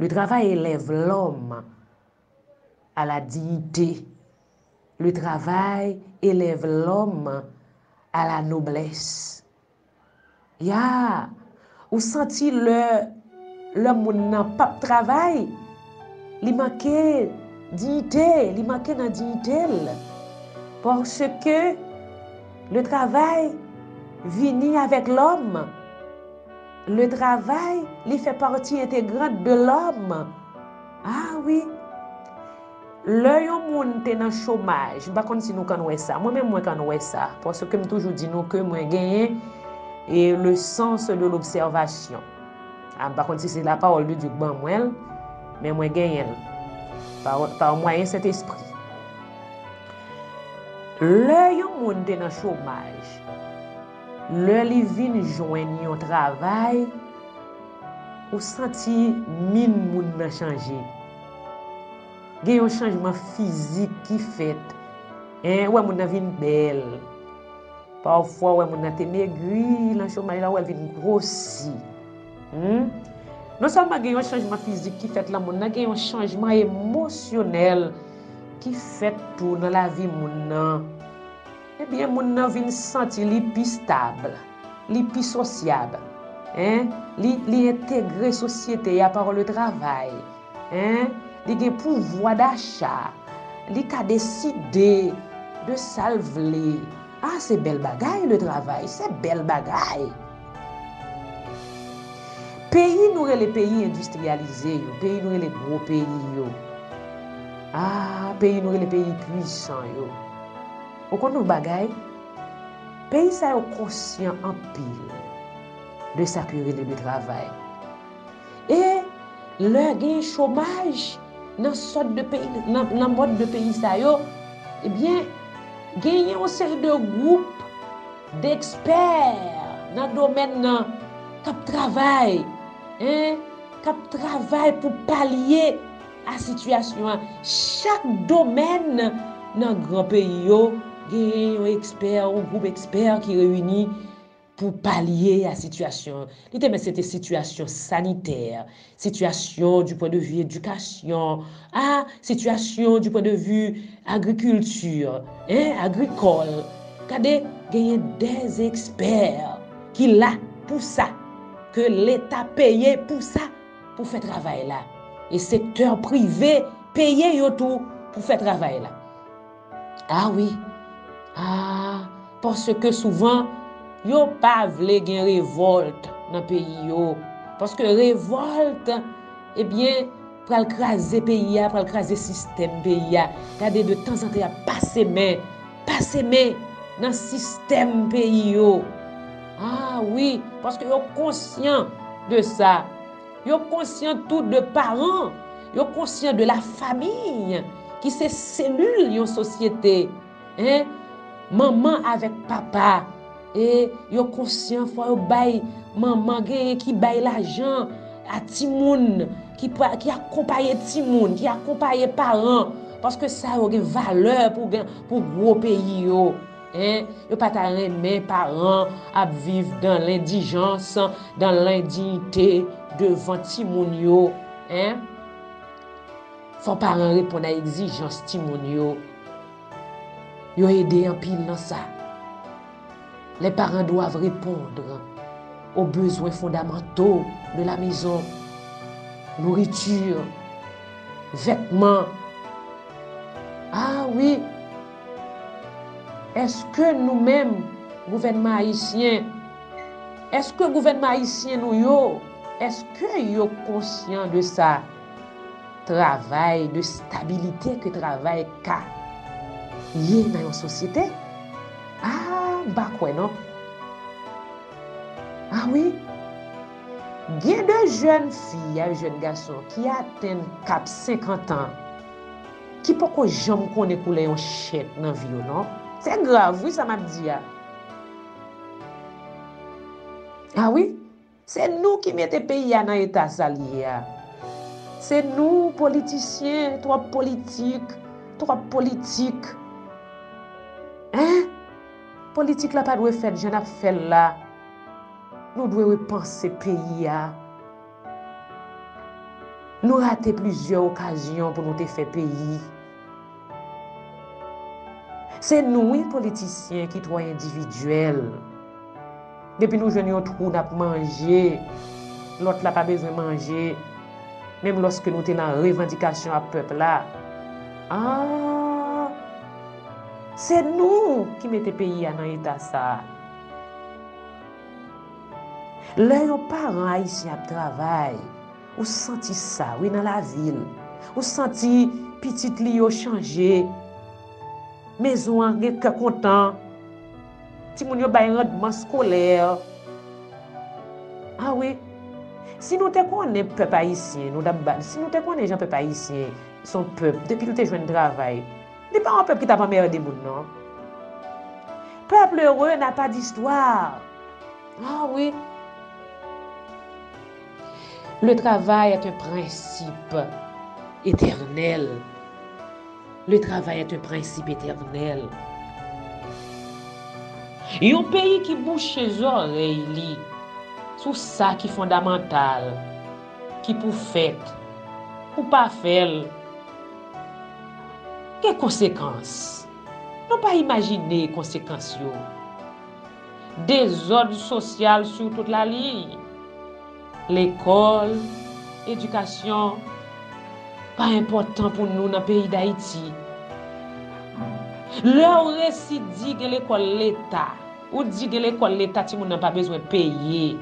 Le travay elèv lòm a la diyite, le travay elèv lòm a la noblès. Ya! Ou santi lè lè moun nan p ap travay, li manke diyite, li manke nan diyite l. Paske le travay vini avèk lòm. Le travay li fè pati entegrant de l'homme. A wi. Lè yon moun te nan chomaj, m pa konn si nou konn wè sa. Mwen menm mwen konn wè sa. Paske m toujou di nou ke mwen genyen e le sens de l'observation. A m pa konn si se la parole de Dieu ki ban mwen l, men mwen genyen l. Par moyen Saint Esprit. Lè yon moun te nan chomaj. Lè li vin jwenn yon travay, ou santi min moun nan chanje. Gen yon chanjman fizik ki fèt. Ou wè moun nan vin bèl. Pafwa ou wè moun nan te megri nan chomaj la, ou wè l vin gwosi. Non sèlman gen yon chanjman fizik ki fèt nan moun nan, gen yon chanjman emosyonèl ki fèt tou nan lavi moun nan. Ebyen moun nan vin santi li pi stab, li pi sosyab, en, li, li entegre sosyete ya par le travay, en, li gen pouvwa dacha, li ka deside de sa l vle, a se bèl bagay le travay, se bèl bagay. Peyi nou rele peyi endistriyalize yo, peyi nou rele gwo peyi yo, a peyi nou rele peyi pwisan yo, Ou konn yon bagay, peyi sa yo konsyan anpil de sa ki rele de travay. E lè gen chomaj nan sòt de peyi, nan mòd de peyi sa yo, ebyen genyen yon seri de gwoup dekspè nan domèn nan k ap travay, k ap travay pou palye. A Sitiyasyon a Chak domèn nan gran peyi yo genyen yon ekspè ou gwoup ekspè ki reyini pou palye a sitiyasyon an. Li te mèt se te sitiyasyon sanitè, sitiyasyon di pwen de vi edikasyon, a sitiyasyon di pwen de vi agrikilti, en, agrikòl. Gade, genyen dèz ekspè ki la pou sa, ke Leta peye pou sa. pou fè travay la e sektè prive peye yo tou pou fè travay la. A wi, a, paske souvan yo pa vle gen revòlt nan peyi yo, paske revòlt, ebyen, pral kraze peyi a, pral kraze sistèm peyi a, gade de tanzantan y ap pase men Pa seme nan sistèm peyi yo. A wi, paske yo konsyan de sa. Yo konsyan tou de paran. Yo konsyan de la famiy ki se selil yon sosyete. Manman avèk papa. E yo konsyan fwa yo bay manman genyen ki bay lajan a timoun, ki akonpaye timoun, ki akonpaye paran. Paske sa yo gen valè pou gwo peyi yo. Yo pa ta renmen paran ap viv dan lendijans, dan lendiyite devan timoun yo. Fwa paran reponn a egzijans timoun yo. Yo ede anpil nan sa. Les parents doivent repondre aux besoins fondamentaux de la maison, nourriture, vètman. Ah wi! Eske nou menm gouvènman ayisyen, eske gouvènman ayisyen nou yo, eske yo konsyan de sa? travay, de stabilite ke travay ka ye nan yon sosyete, a, m pa kwè non. A wi, gen de jèn fi ak jèn gason ki atenn kap senkantan, ki poko janm konnen koulè yon chèk nan vi yo non. Se grav wi sa m ap di a. A wi. Se nou ki mete peyi a nan eta sa li ye a. Se nou politisyen twòp politik, twòp politik. Hein! Politik la pa dwe fèt jan nap fèl la. Nou dwe repanse peyi a. Nou rate plizyè okazyon pou nou te fè peyi. Se nou wi politisyen ki twò endividyèl. Depi nou jwenn yon twou nap manje, lòt la pa bezwen manje. Menm lòske nou te nan revandikasyon ap pèp la. Aah! Se nou ki mete peyi a nan eta sa. Lè yon paran ayisyen ap travay. Ou santi sa wi nan lavi l. Ou santi pitit li yo chanje. Mezon an gen kè kontan. Timoun yo bay randman skolè. A wi. Si nou te konnen pèp ayisyen, nou ta ba, si nou te konnen jan pèp ayisyen son pèp, depi l te jwenn travay, li pa yon pèp ki t ap anmède moun non. Pèp lere na pa distwa. A wi. Le travay est un prensip etènèl Le travay est un prensip etènèl Yon peyi ki bouche zòrèy li sou sa ki fondamantal, ki pou fèt, pou pa fè l, gen konsekans. Nou pa imajine konsekans yo. Dezòd sosyal sou tout laliy. Lekòl, edikasyon pa enpòtan pou nou nan peyi Dayiti. Lè ou resi di gen lekòl leta, ou di gen lekòl leta timoun nan pa bezwen peye.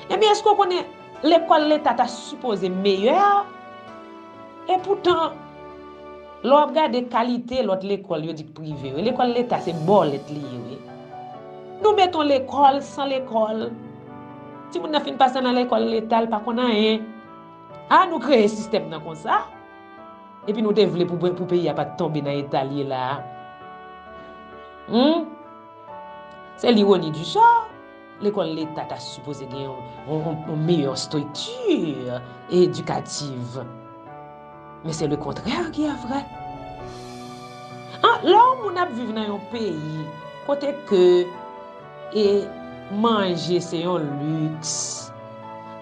Ebyen èske ou konnen lekòl leta ta sipoze meyè? Epoutan. Lè w ap gade kalite lòt lekòl yo di k prive yo, lekòl leta se bòlèt li ye wi. Nou met on lekòl san lekòl, timoun nan fin pase nan lekòl leta l pa konn anyen. A nou kreye sistèm nan konsa, epi nou te vle pou peyi a pa t tonbe nan eta l ye la a. Hum! Se l'ironie du sort. Lekòl leta ta sipoze gen yon meyò strikti edikativ. Men se le kontrè ki a vrè. Lè yon moun ap viv nan yon peyi kote ke e manje se yon liks,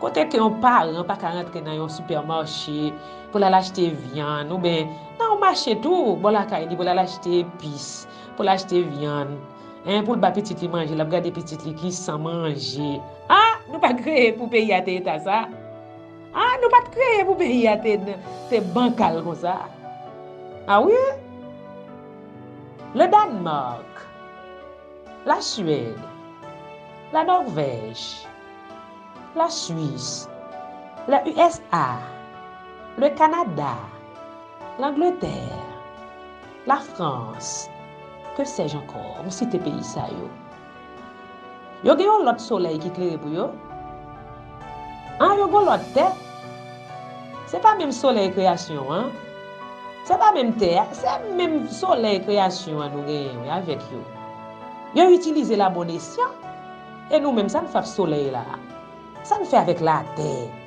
kote ke yon paran pa ka rantre nan yon sipèmache pou l al achte vyann, ou ben nan yon mache tou bò lakay li pou l al achte epis, pou l achte vyann. Hein poul ba pitit li manje lap gade pitit li ki San manje ah nou pa kreye pou peyi a te eta sa ah nou pat kreye pou peyi a te bankal konsa ah wi le Danemark la Suède la Norvèj la Suisse le usa le Canada l'Angleterre La Frans, ke sèj ankò, ou site peyi sa yo. Yo gen yon lòt solèy ki klere pou yo? An, yo gen yon lòt tè? Se pa menm solèy kreyasyon an? Se pa menm tè a? Se menm solèy kreyasyon an nou genyen wi avèk yo. Yo itilize l a bon esyan. E nou menm, sa n fè ak solèy la? Sa n fè avèk latè?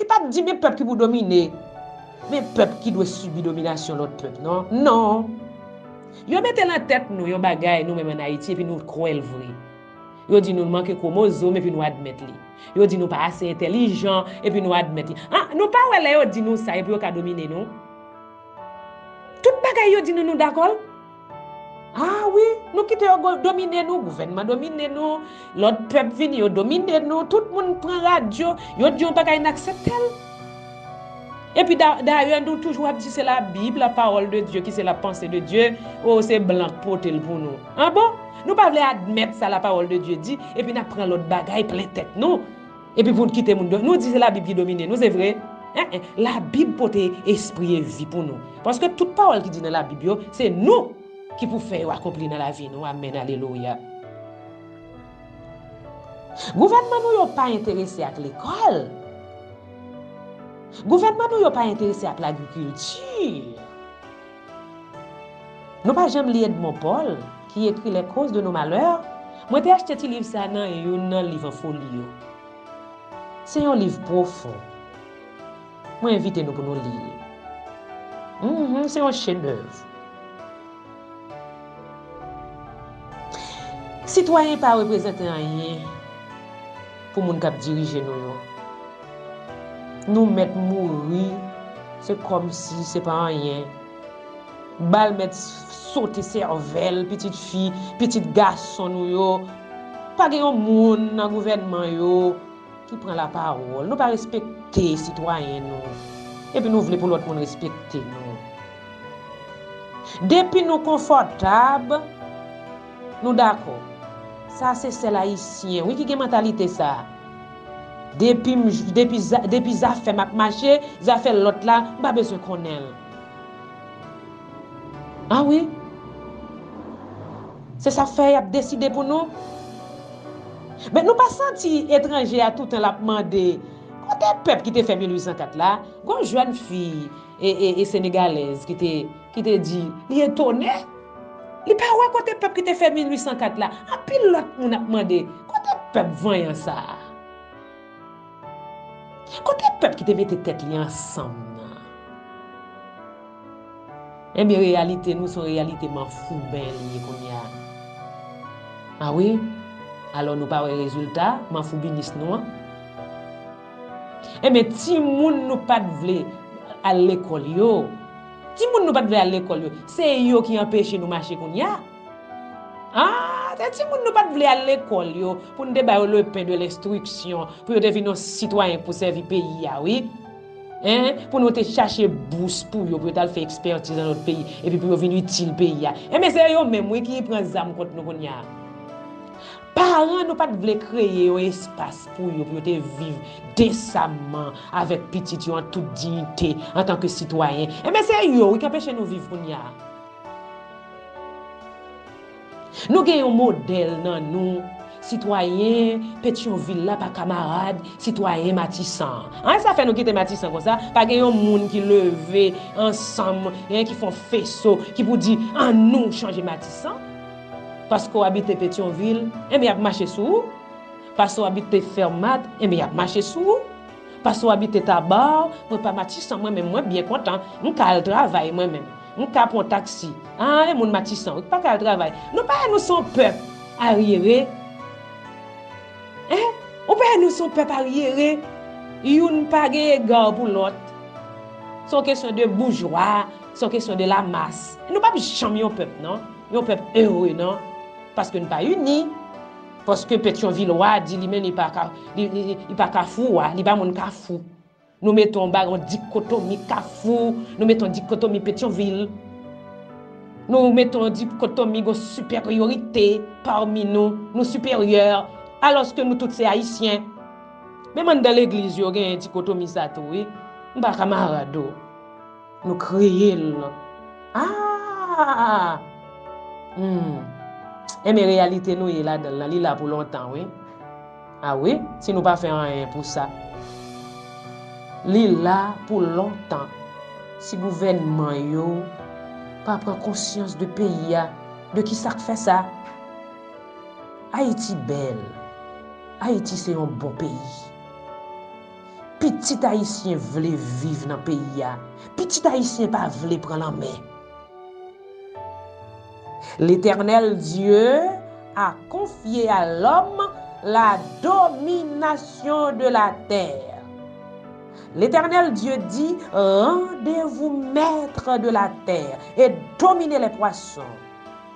Li pa t di men pèp ki pou domine, men pèp ki dwe sibi dominasyon lòt pèp non. Non! Yo mete lan tèt nou yon bagay nou menm ann Ayiti epi nou kwè l vre. Yo di nou n manke kwomozom epi nou admèt li. Yo di nou pa ase entèlijan epi nou admèt li. An, nou pa wè lè yo di nou sa e pou yo ka domine nou? Tout bagay yo di nou nou dakò l? Ah wi, nou kite yo domine nou, gouvènman domine nou, lòt pèp vini yo domine nou, tout moun pran radyo, yo di yon bagay n aksepte l. Epi dayè nou toujou ap di se la bib, la pawòl de Dye ki se la panse de Dye, oo se blan k pote l pou nou. An bon? Nou pa vle admèt sa la pawòl de Dye di, epi n ap pran lòt bagay plen tèt nou. Epi pou n kite moun do. Nou di se la bib ki domine nou se vre eh eh la bib pote espri e vi pou nou paske tout pawòl ki di nan la bib yo se nou ki pou fè yo akonpli nan lavi nou amèn alelouya gouvènman nou yo pa enterese ak lekòl gouvènman nou yo pa enterese ak lagrikilti. Nou pa janm li Edmond Paul, ki ekri Les causes de nos malheurs? Mwen te achte ti liv sa nan youn nan liv an folyo. Se yon liv pwofon. Mwen envite nou pou nou li l. Mh, se yon chedèv. Sitwayen pa reprezante anyen. Pou moun kap dirije nou yo. Nou mèt mouri se kòmsi se pa anyen. Bal mèt sote sèvèl pitit fi, pitit gason nou yo. Pa gen yon moun nan gouvènman yo ki pran lapawòl. Nou pa respekte sitwayen nou. Epi nou vle pou lòt moun respekte nou. Depi nou konfòtab. Nou dakò. Sa se sèl ayisyen wi ki gen mantalite sa. Depim depi depi zafèm ap mache zafè lòt la m pa bezwen konnen l. A wi. Se sa fè yap deside pou nou. Men nou pa santi etranje a toutan lap mande kote pèp ki te fè 1804 la gon jèn fi e senegalèz ki te ki te di li etone li pa wè kote pèp ki te fè 1804 la anpil lòt moun ap mande kote pèp vanyan sa a kote pèp ki te mete tèt li ansanm nan enben reyalite nou se yon reyalite manfouben li ye kounye a a wi alò nou pa wè rezilta manfoubinism nou an Enben timoun nou pat vle Al lekòl yo Timoun nou pat vle Al lekòl yo Se yo ki anpeche nou mache kounya Aah se timoun nou pat vle Al lekòl yo pou nou te ba yo le pen de lenstriksyon pou yo te vin yon sitwayen pou sèvi peyi a wi Hein pou nou te chache bous pou yo pou yo tal fè ekspètiz nan lòt peyi epi pou yo vin itil peyi a Enben se yo menm wi ki pran zam kont nou kounya. Paran nou pa t vle kreye yon espas pou yo, pou yo te viv desamman avèk pitit yo an tout diyite antanke sitwayen. Enben se yo wi k anpeche nou viv kounye a. Nou gen yon modèl nan nou, sitwayen Petyonvil la pa kamarad sitwayen Matisan an. An e sa fè nou kite Matisan konsa, pa gen yon moun ki leve ansanm, ki fè yon feso, ki pou di annou chanje Matisan. Paske w abite Petyonvil, enben y ap mache sou ou. Paske w abite Fermat, enben y ap mache sou ou. Paske w abite Taba, mwen pa Matisan mwen menm, mwen byen kontan, m ka al travay mwen menm. M ka pran taksi. Aa e moun Matisan wi k pa ka al travay. Nou pa wè nou se yon pèp aryere? Hein? Ou pa wè nou se yon pèp aryere? Youn pa gen ega pou lòt. Se yon kesyon de boujwa, se yon kesyon de lamas. Nou p ap janm yon pèp non. Yon pèp heureux nan paske n pa uni paske petion vilois di li menm li pa ka li pa kafou wa li pa moun kafou nou mete yon bagy yon dikotomi kafou nou mete yon dikotomi petion vil nou mete yon dikotomi gon superiorite parmi nou nou superieur aloske nou tout se ayisyen menm anndan legliz yo genyen dikotomi sa tou wi m pa kamarad ou. Nou kreye l. Aah! Humm! Enben reyalite nou ye ladan l lan, li la pou lontan wi. A wi, si nou pa fè anyen pou sa. Li la pou lontan. Si gouvènman yo pa pran konsyans de peyi a, de ki sa k fè sa? Ayiti bèl. Ayiti se yon bon peyi. Pitit ayisyen vle viv nan peyi a, pitit ayisyen pa vle pran lanmè. Letènèl Dye a konfye a lòm la dominasyon de la tè. Letènèl Dye di, Randevou mètre de la tè, e domine lè pwason.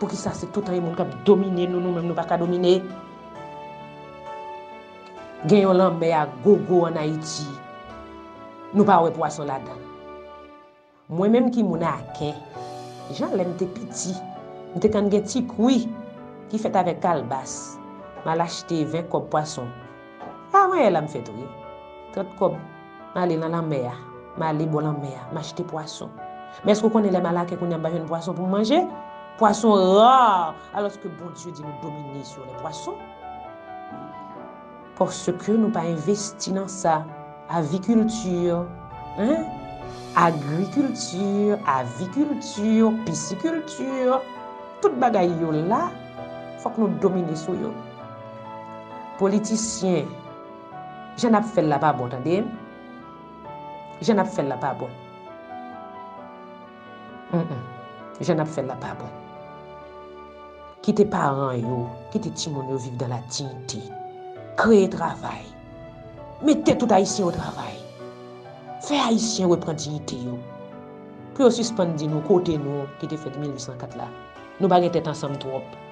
Poukisa se toutan yon moun kap domine nou nou menm nou paka domine? Gen yon lanmè a gogo an Ayiti nou pa wè pwason ladann. Mwen menm ki moun Aken, jan lèm te piti, m te konn gen ti kwi ki fèt avèk kalbas, m al achte 20 kòb pwason. Pa mwen e la m fè tou ye. 30 kòb, m ale nan lanmè a, m ale bò lanmè a, m achte pwason. Men èske w konnen lè m al a kè kounye a m pa jwenn pwason pou m manje? Pwason rare! Alòske Bondye di nou domine sou lè pwason. Paske nou pa envesti nan sa. Avikilti, hein? Agrikilti, avikilti, pisikilti, tout bagay yo la, fòk nou domine sou yo. Politisyen Jan nap fèl la pa bon tande Jan nap fèl la pa bon Humm Jan nap fèl la pa bon Kite paran yo Kite timoun yo viv dan la diyite Kreye travay Mete tout ayisyen o travay Fè ayisyen repran diyite yo Pou yo sispann di nou kote nou Kite fèt 1804 la Nou pa gen tèt ansanm twòp.